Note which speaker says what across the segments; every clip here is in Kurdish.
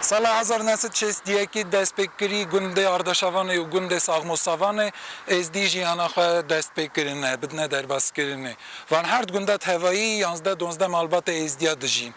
Speaker 1: Sala hezar neh sed şêst dî yekî dest pê kirî gundê Ardaşavanê û gundê Saxmosavanê Êzdî jîyana xwe dest pê kirine, bidine derbas kirinê. Van herd gunda tevayî yanzdeh donzdeh malbatê Êzdîya dijîn.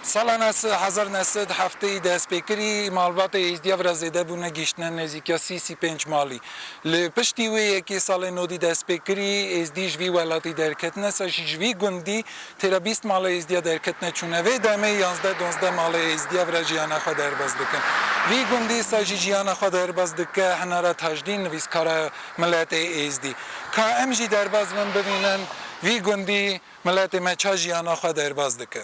Speaker 1: Sala neh sed hezar neh sed hefteyî dest pê kirî malbatê Êzdîya vira zêde bûne gîştine nêzîkîya sî sî pênc malî. Li piştî wê yekê salê nodî dest pê kirî Êzdî ji vî welatî derketine ser jî ji vî gundî Têra bîst mala Êzdîya derketine çûne. Vê demê yazdeh donzdeh mala Êzdîya vira jiyana xwe derbas dikin. Vî gundî sa jî jiyana xwe derbas dike Hinara Tajdîn nivîskara miletê Êzdî. Ka em jî derbas bin bibînin vî gundî miletê me ça jiyana xwe derbas dike.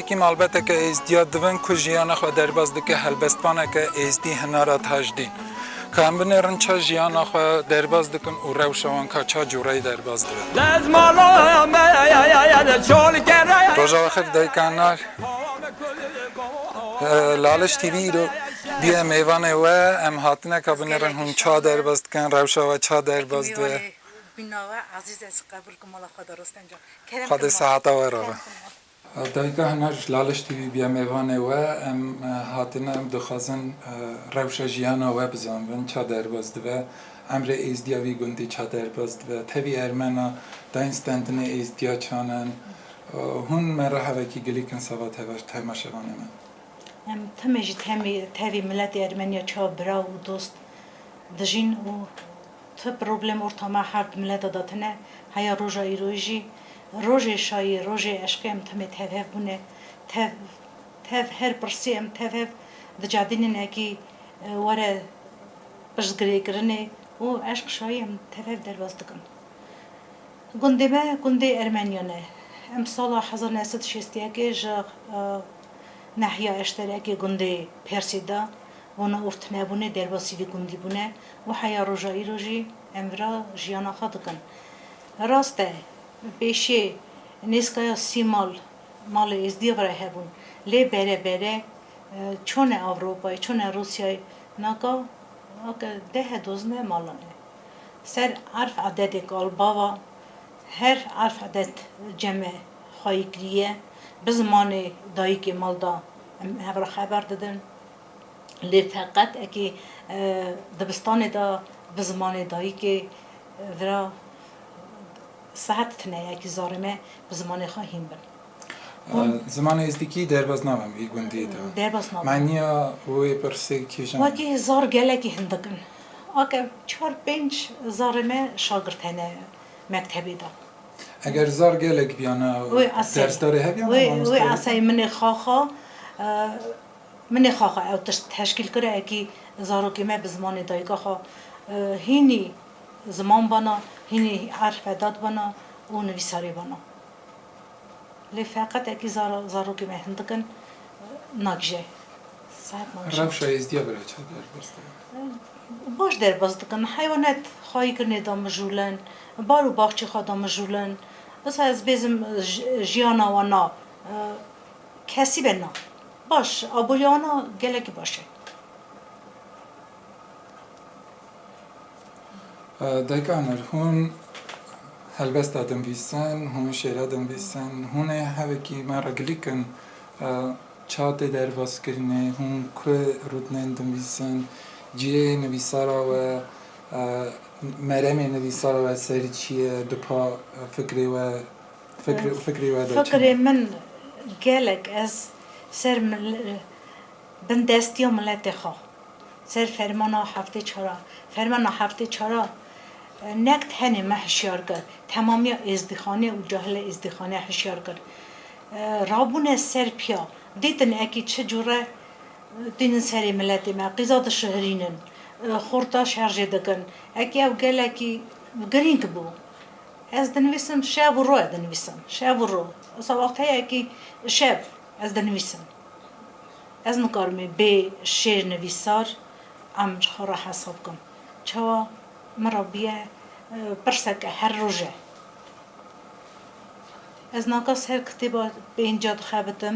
Speaker 1: Wekî malbeteke êzdîya divin ku jiyana xwe derbas dike helbestvaneke êzdî hinara tajdîn. Ka em binêrin ça jiyana xwe derbas dikin û rewşa wan ka ça cûreyî derbas dibe. Rojava xev dayika Nal Laliş TV îro bûye mêvanê we. Em hatine ka binêrin hûn ça derbas dikin, rewşa we ça derbas dibe.
Speaker 2: Xwedê seheta we re
Speaker 1: be. Dayika Huner ji Laliş TV'ê bîya mêvanê we. Em hatine em dixwazin rewşa jiyana we bizanibin ça derbas dibe. Emrê êzdiya vî gundî ça derbas dibe. Tevî ermena dayîn stendinê êzdiya çan in. Hûn me re hevekî gilîk in sava tevaş terma şevanê me. Em timê
Speaker 2: ji tevî miletê ermeniya ça biraw û dost dijîn û Ti problem ortama her di mileta de tine, heya roja îroyî jî. Rojê şayî, rojê eşqê em timê tev hev bûne. Tev, tev her pirsî em tev hev dicadînin ekî were pirsgirêkirinê û eşq şayî em tev hev derbas dikin. Gundê me gundê Ermeniyan e. Em sala hezar new sed û şêst yekê ji nehiya eşterekê gundê Persê de Vana û tunebûnê derbasî di gundî bûne û heya roja îro jî em vira jiyana xwe dikin. Rast e, pêşê nêzkaya sî mal malê Êzdîya vira hebûn. Lê bere bere çone Ewropayê, çone Rûsyayê naka ake dehe dozine malan e. Ser erf ededê kalbava her erf eded ceme xwayî kirîye. Bi zimanê dayîkê mal de em hev ra xeber didin. Lê feqet ekê dibistanê de bi zimanê dayikê vira sert tine ekê zarê me bi zimanê xwe hîn bin. Zimanê Êzdîkî
Speaker 1: derbas nabin vî gundiyê de. Derbas nabin. Maniya
Speaker 2: wê
Speaker 1: pirsê kîjan e? Wekî zar gelekî
Speaker 2: hindik in. Ake çar pênc zarê me şagird hene mektebê de. Eger zar
Speaker 1: gelek biyana dersdarê hebiyana? Wê asayê min ê
Speaker 2: xaxa Min nexaxe ew tişt teşkîl kira ekî zarokê me bi zimanê dayika xwe hînî ziman bana, hînî erfedat bana û nivîsarê bana. Lê feqet ekî zara zarokê me hindik in nagije. Saheb
Speaker 1: nagije. Rewşa Êzdîya bira çav derbas dikin.
Speaker 2: Baş derbas dikin. Heywanet xwe yê kirinê damijûlin, bar û baxçê xwe damijûlin. Disa ez bêzim jiyana wan na kesî be na. Baş,
Speaker 1: aboriyana gelekî baş e. Dayika mir, hûn helbesta dinvîsin, hûn şêra dinvîsin, hûn ê hevekî me re gilî kin. Ça tê derbazkirinê, hûn ku rûtinên dinvîsin, cihê nivîsara we, meremê nivîsara we ser çi ye, di pa fikrê we, Fikrê we de
Speaker 2: çi? Fikrê min gelek ez ser bin destiya miletê xwe ser fermana heftê çar a fermana heftê çar a nekt henê me hişyar kir temamiya êzdîxane û cahilê êzdîxane hişyar kir rabûne ser piya dîtin ekî çi cure tînin serê miletê me qîza dişihirînin xurta şerjê dikin ekî ew gelekî girîng bû. Ez dinivîsim şev û rû e dinivîsim şev û rû wisa wext heye kî şev ez dinivîsim ez nikarim ê bê şêr nivîsar em ji xwe re hesa bikim çawa min re bûye pirseke her roje ez naka ser kitêba pênca dixebitim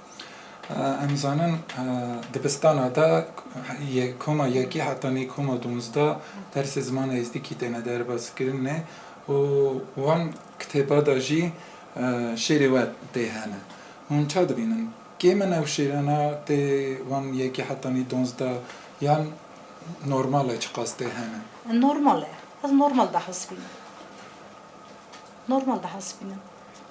Speaker 2: Em zanin
Speaker 1: dibistana de yê koma yekê heta nê koma donzdeh dersê zimana êzdikî têne derbazkirin nê û wan kitêba de jî şêrê we tê hene. Hûn ça dibînin? Kêm in ew şêrana tê wan yekê heta nê donzdeh yan normal e çiqas tê hene? Normal e.
Speaker 2: Ez normal dihesibînim. Normal dihesibînim.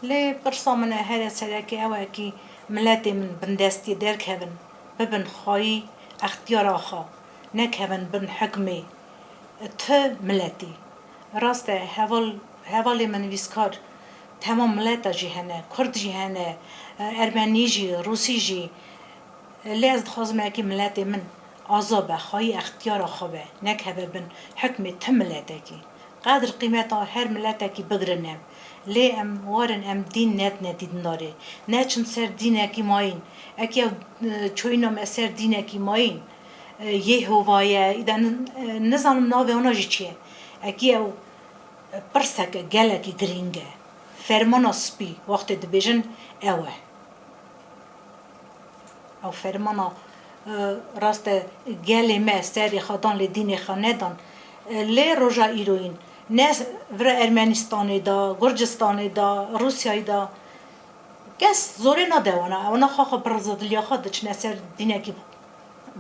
Speaker 2: Lê pirsa min e here sereke ew e kî miletê min bindestî derkevin bibin xwayî extiyara xwe nekevin bin hukmê tu miletî. Rast e heval hevalê min vîskar temam mileta jî hene kurd jî hene ermenî jî rûsî jî lê ez dixwazim e kî miletê min aza be xwayî extiyara xwe be nekeve bin hukmê tu miletekî. Qedr qîmeta her miletekî bigirine. Lê em warin em dîn nedine dîndarê. Neçin ser dînekî mayîn. Eke ew çûyîna me ser dînekî mayîn, Yehova ye, îde nizanim navê wana jî çi ye. Ekî ew pirseke gelekî girîng e. Fermana spî wextê dibêjin ew e. Aferimana rast e gelê me serê xwe dan lê dînê xwe nedan. Lê roja îroyîn ne vira Ermenistanê de, Gurcistanê de, Rûsyayê de kes zorê nade wana. Wana xwe xwe bi rizediliya xwe diçine ser dînekî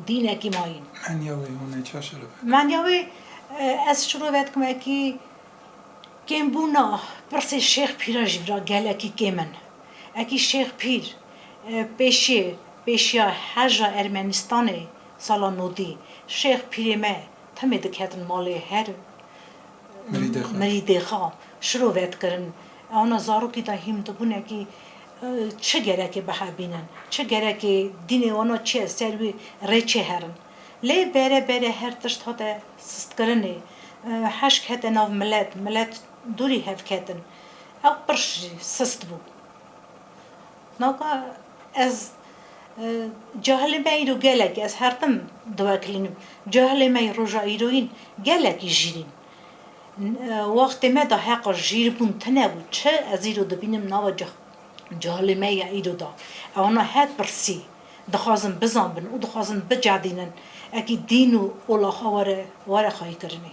Speaker 2: dînekî mayîn. Menya wê hûnê
Speaker 1: ça şereve dikin? Menya wê
Speaker 2: ez şirove dikim wekî kêmbûna pirsê şêx pîra ji vira gelekî kêm in. Ekî Şêx Pîr, pêşiyê pêşiya Herja Ermenistanê sala nodî, Şêx Pîrê me timê diketin malê her mirîdê xwe şiro vedkirin. Ana zarokî de hîm dibûne kî çi gerekê bihebînin, çi gerekê dînê wan a çi ye ser wî rê çêherin. Lê bere bere her tişt hate sistkirinê, heşk hete nav milet, milet dûrî hev ketin. Ew qirş jî sist bû. Ma got, Ez cahilê me îro gelek, ez her tim diwekilînim, cahilê me yê roja îroyîn gelekî jîrîn. Wextê me de heqa jîrbûn tune bû. Çi ez îro dibînim nava cahilê me ya îro de? Ewna her pirsî dixwazin bizanbin û dixwazin bicedînin. Ekî dîn û ola xwe were xwayîkirinê.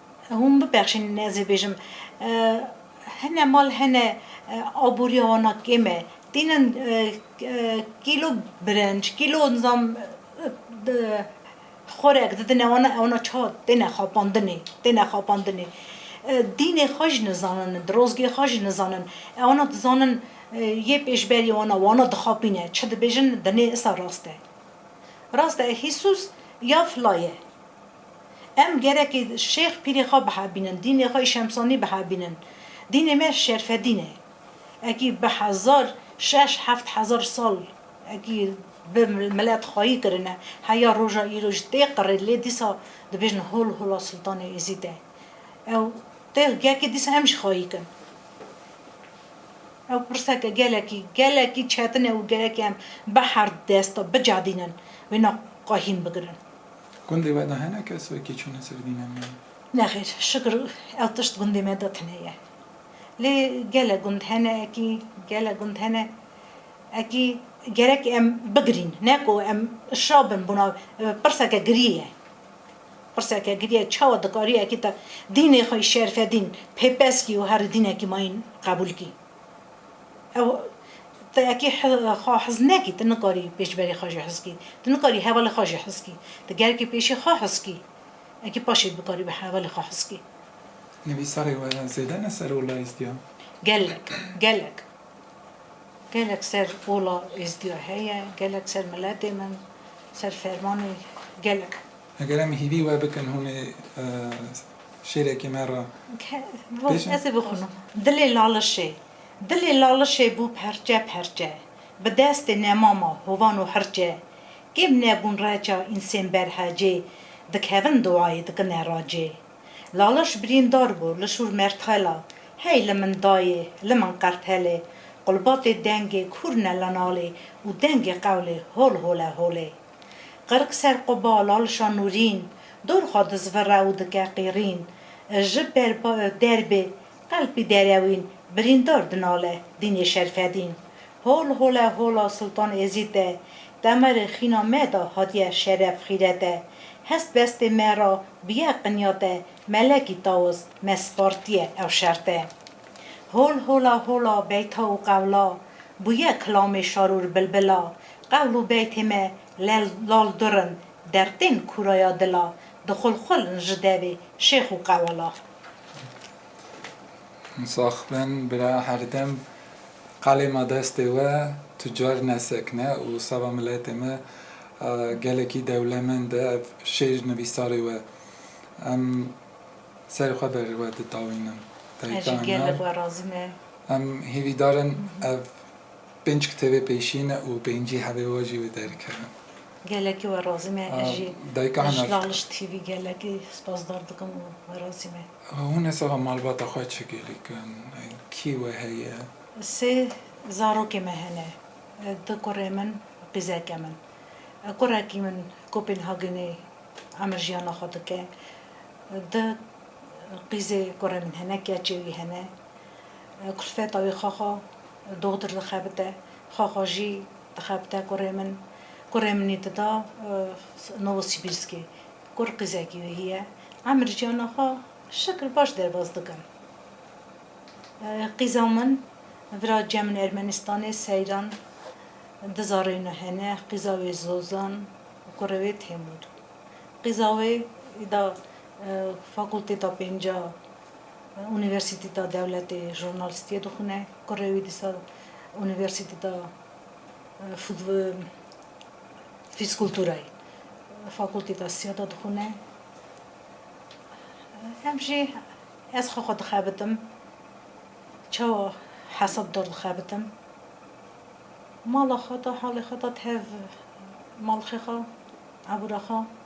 Speaker 2: Hûn bibexşînin ez ê bêjim hene mal hene aboriya wana kêm e têne kîlo birenc kîlo nizam xorek didine wana wana ça têne xapandinê têne xapandinê dînê xwe jî nizanin dirozgê xwe jî nizanin e wana dizanin yê pêşberîyê wana wana dixapîne çi dibêjin dinê isa rast e rast e hîsus ya fila ye. Em gerekî Şêx Pîrê xwe bihevbînin, dînê xwe yê Şemsanî bihevbînin. Dînê me şerfedîn e. Ekî bi hezar, şeş, heft hezar sal ekî bi milet xwayî kirine. Heya roja îro jî tê qirê lê dîsa dibêjin hol hola Sultanê Êzîd e. Ew tê yekê dîsa em jî xwayî kin. Ew pirseke gelekî, gelekî çetin e û gerekî em bi her desta bicadînin wêna xwe hîn bigirin. Gundê we de
Speaker 1: hene kes wekî çûne ser dîna me? Nexêr, şikir
Speaker 2: ew tişt gundê me de tune ye. Lê gelek gund hene ekî, gelek gund hene ekî gerek em bigirîn. Ne ku em şa bin bûna pirseke girî ye. Pirseke girî ye çawa dikarî ekî te dînê xwe î şerfedîn pêpez kî û herî dînekî mayîn qebûl kî. Ew te ekê xwe hez nekî, tu nikarî pêşberê xwe jî hez kî. Tu nikarî hevalê xwe jî hez kî. Tu gerekî pêşî xwe hez kî. Ekê paşê bikarî bi hevalê xwe hez kî. Nivîsarê
Speaker 1: we zêde ne ser ola êzdiya? Gelek, gelek.
Speaker 2: Gelek ser ola êzdiya heye, gelek ser miletê min, ser fermanê gelek. Eger em hîvî
Speaker 1: we bikin hûn ê şêrekê me re bêjin? Ez
Speaker 2: ê bixwînim. Dilê lalişê Dilê lalişê bû perçe perçe Bi destê nemama hovan û hirçe Kêm nebûn reça însên berhecê Dikevin duayê dikine racê Laliş birîndar bû li şûr mertxela Hey li min dayê li min qertelê Qulbatê dengê kûr ne li nalê Û dengê qewlê hol hole holê. Qirk ser quba lal şanûrîn. Dor xwe dizvire û dike qîrîn. Ji ber derbê qelpî derewîn. Birîndar dinale dînê Şerfedîn. Hol hole hola Sultan Êzîd e. Demerê xîna me de hatiye şeref xîret e. Hest bestê me ra biye qinyat e. Melekî Taws me spartiye ew şert e. Hol hola hola beyta û qewla. Bûye kilamê şarûr bilbila. Qewl û beytê me lel lal dur in, Dertên kûraya dila, dixul xul in ji devê şêx û qewala.
Speaker 1: Sax ben bira herdem qalê ma destê we tucar nesekne û seba miletê me gelekî dewlemend e ev şêr nivîsarê we em serê xwe ber we ditawînin. Ez jî gelek
Speaker 2: we razî me. Em hîvîdar
Speaker 1: in ev. Pênc kitêbê pêşî ne û pêncî hevê we jî wê derkevin. Gelekî we
Speaker 2: razî me ez jî li Laliş
Speaker 1: TV gelekî
Speaker 2: spasdar dikim û we razî me. Hûn hesaba
Speaker 1: malbata xwe çi gelîkin? Kî we heye? Sê
Speaker 2: zarokê me hene. Du kurê min û qîzeke min. Kurekî min Kopenhagenê emirjiyana xwe dike. Du qîzê kurê min hene, keçê wî hene. Kulfeta wî xaxa Doxtir dixebite, Xwaxwajî dixebite kurê min. Kurê min ê dida Novosibîrskê. Kur qîzekî wê hîye. Emir jiyana xwe şikir baş derbas dikin. Qîza min vira ciya min Ermenistanê Seyran dizareyno hene. Qîza wê Zozan û kurê wê Temur. Qîza wê da fakultêta pênca. Unîversîtîta Dewletê jurnalîstîyê dixwine, kurê wî dîsa Unîversîtîta Fîzkulturayê fakultîta sîya de dixwine. Em jî ez xwe xwe dixebitim çawa hesab dor dixebitim mala xwe de halê xwe de tev malxê xwe ebûra xwe.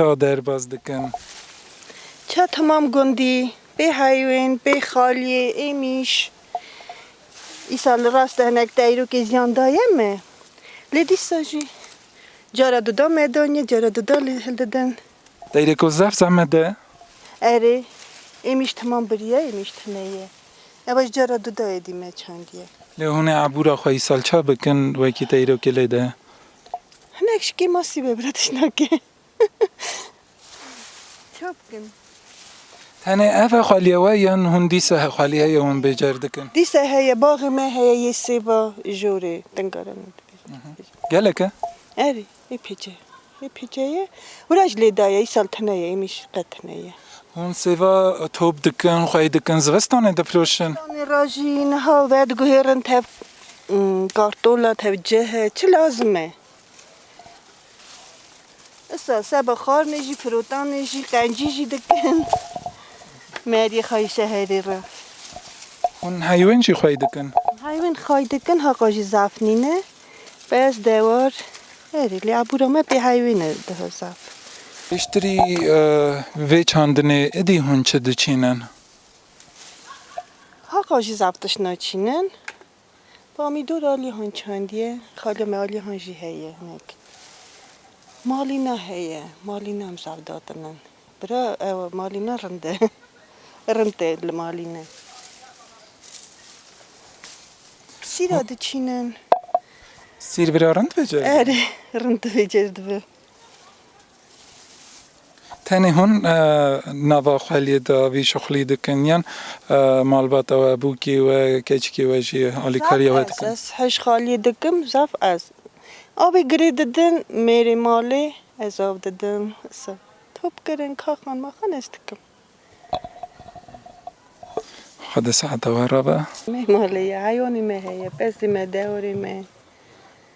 Speaker 1: Ka derbas dikin. Ka
Speaker 3: temam gundî, bê heyûn, bê xaliyê, êmîş. Îsal li rast de hinek deyrokê ziyan daye me. Lê dîsa jî cara duda me daniye, cara duda li hil didin. Deyrêko zaf
Speaker 1: zehmet e. Erê,
Speaker 3: êmîş temam biriye, êmîş tune ye. Eva jî cara duda êdî me çandiye. Lê hûn ê ebûra
Speaker 1: xwe îsal ça bikin wekî deyrokê lê de? Hinek
Speaker 3: ji kê masî be bira tişnake. Ça bikin? Tenê
Speaker 1: ev e xweliya we yan hûn dîsa he xweliya ye hûn bêcer dikin? Dîsa heye, baxê
Speaker 3: me heye yê sêva jorê tingare min dibêje. Gelek
Speaker 1: e? Erê,
Speaker 3: ê pêce ye. Ê pêce ye. Wira ji lê daye, îsal tune ye, îmî jî qet tune ye. Hûn sêva
Speaker 1: top dikin, xwey dikin, zivistanê difiroşin? Zivistanê re jî
Speaker 3: niha vediguhêrin tev Kartola tevcih e çi lazim e? Issa seba xarnê jî, firotanê jî, qencî jî dikin meriyê xwe yê şeherê re. Hûn
Speaker 1: heywen
Speaker 3: jî xwey
Speaker 1: dikin?
Speaker 3: Heywen
Speaker 1: xwey
Speaker 3: dikin
Speaker 1: heqa
Speaker 3: jî zaf
Speaker 1: nîne.
Speaker 3: Bes dewar erê lê abûra me pê heywen e daha zaf. Piştrî
Speaker 1: vê çandinê idî hûn çi diçînin?
Speaker 3: Haqa jî zaf tişt naçînin. Bamî dû re alihan çandiye, xaliya me alihan jî heye hinek. Malîna heye, malîna em zaf datinin. Bira ew malîna rind e. Rind e li malî ne. Sîra diçînin.
Speaker 1: Sîr bira rind bêcer dibe? Erê, rind
Speaker 3: bêcer dibe.
Speaker 1: Tenê hûn nava xweliyê de vî şixulî dikin yan malbata we, bûkê we, keçikê we jî alîkariya we dikin? Zaf ez. Ez hişxaliyê dikim
Speaker 3: zaf ez. Avê girê didin mêrê malê ez av didim. Topkirin, kaxan maxan ez dikim.
Speaker 1: Xwe di saeta we re be. Me malê ye,
Speaker 3: heyanê me heye, pezê me, dewrê me.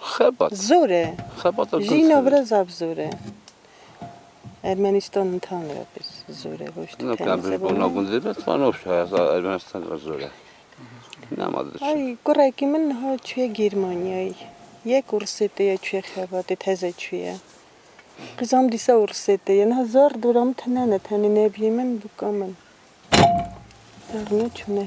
Speaker 4: Xebat. Zor e.
Speaker 3: Xebat da Jî
Speaker 4: navbera gundxebat. zaf
Speaker 3: zor e. Ermenistan intihan re pir zor e. Hoj tu Nokna tenê bir bona sebûna.
Speaker 4: gundê be twa nov şaya za Ermenistan ra zor e. Nema da çi. Ay kurekî min
Speaker 3: niha çûye Gêrmanyayê. Yek û risê tê ye çûye Xebatê teze çûye. Qîza min dîsa û risê tê ye. Niha zar dora min tenene tenê nebîyê min bûka min. Zar neçûne.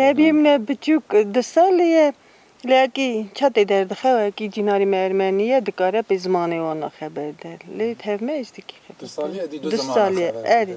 Speaker 1: Nebî min e biçûk
Speaker 3: du salî ye lê wekî çetê derdixe wekî cînarî me ermenî ye dikare pê zimanê wan re xeber de lê tevme êzdikî xeber de du salî
Speaker 1: ye erê.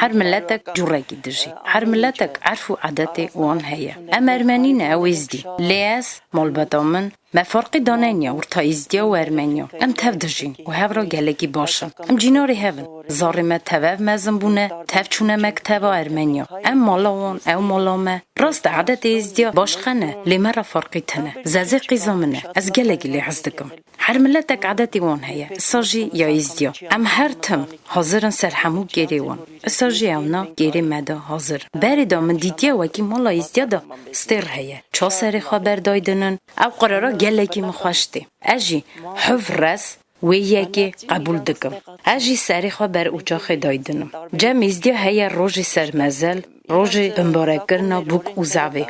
Speaker 5: Her miletek
Speaker 6: currekî dijî. Her miletek erf û adetê wan heye. Em ermenî ne ew êzdî. Lê ez, malbata min, me ferqî daneniya orta êzdiya û ermeniya. Em tev dijîn û hev ra gelekî baş in. Em cînarê hev in. Zarê me tevev mezin bûne, tev çûne mekteba ermeniya. Ew mala wan, ew mala me. Rast e adetê êzdiya başqe ne, lê me ra ferqî tune. Zezê qîza min e. Ez gelekî lê hez dikim. Her miletek edetê wan heye, isa jî ya Êzdiya. Em her tim hazir in ser hemû kêrê wan. Isa jî ewna kêrê me de hazir in. Berê de min dîtiye wekî mala Êzdiya de stêr heye. Ça serê xwe ber day din in. Ew qerara gelekî min xweş tê. Ez jî hiv rez wê yekê qebûl dikim. Ez jî serê xwe ber ocaxê day din im. Cem Êzdiya heye rojê ser mezel. Rojê binbarekirina bûk û zevê.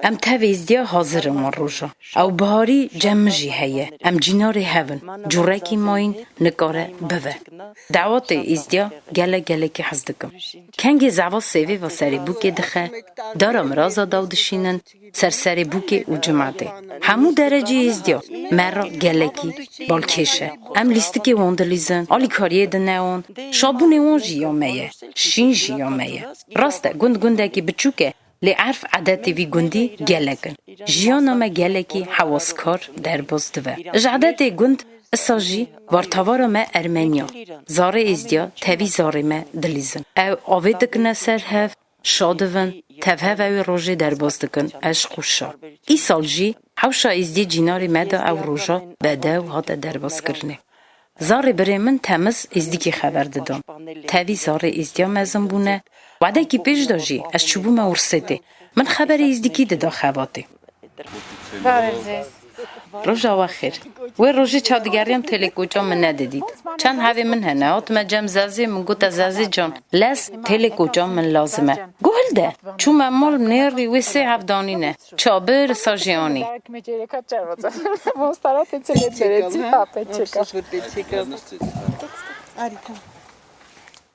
Speaker 6: Em tevê îzdîya hazir in wan rojan. Ew biharî cem min jî heye. Em cînarê hev in. Cûrekî ma yîn nikare bive. Dawetê îzdîya gelek gelekî hez dikim. Kengê zeva sêvê va serê bûkê dixe, dara miraza daw dişînin, Ser serê bûkê û cimatê hemû derecî hêzdiya me re gelekî balkêş e. Em lîstikê wan dilîzin, alî kariyê dineon, şabûnê wan jî ya me ye, şîn jî ya me ye. Rast e gund gundekî biçûk e lê erf edetê vî gundî gelek in. Jiyana me gelekî hewaskar, derbas dive. Ji edetê gund isa jî bartavara me ermeniya zarê êzdiya tevî zarê me dilîzin. Ew avê dikine ser hev, Şa divin, tevheve wê rojê derbas dikin, eşq û şa. Îsal jî hewşa Êzdî cînarê me da ew roja bedew hate derbaskirinê. Zarê birê min temiz Êzdikî xeber didan. Tevî zarê Êzdîya mezin bûne. Wedekî pêş de jî ez çûbûme Wursêtê. Min xeberê Êzdikî dida xebatê. Parizês. Rojava xêr. Wê rojê çav digeriyam telê koça min nedidît. Çend hevê min hene, hatime cem Zazê, min gote Zazê can, lez telê koça min lazim e. Guhil de. Çûme mal nêrî wê sê hev danîne. Çabir, sajê anî.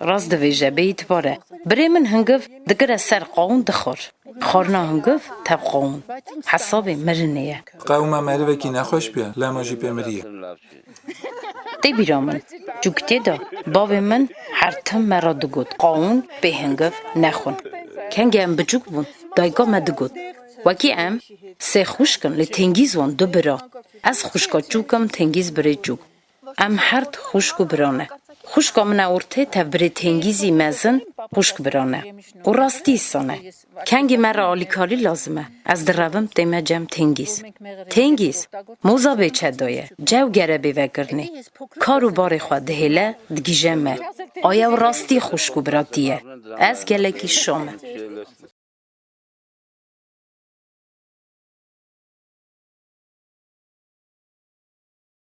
Speaker 6: Rast divêje bêyî dibare. Birê min hungiv digire ser qawûn dixwir. Xwarina hungiv tev qawûn. Hesabê mirinê ye. Qawûma merivekî
Speaker 1: nexweş bûye lama jî pê mirîye.
Speaker 6: Tê bîra min. Çûkitê de bavê min her tim me re digot qawûn bê hungiv nexwin. Kengê em biçûk bûn dayika me digot wekî em sê xwişk in lê tengîz wan du bira. Ez xwişka çûk im tengîz birê çûk. Em her di xwişk û biro ne. Xwişka min a ortê tevbirê têngîzî mezin xwişk biro ne. Û rastî son e. Kengî me re alîkarî lazim e. Ez direvim tê me cem têngîz. Têngîz, moza bê çedo ye, cew gere bê vegirinê. Kar û barê xwe dihêle, digîje me. Aye ew rastî xwişk û biratî ye. Ez gelekî şo me.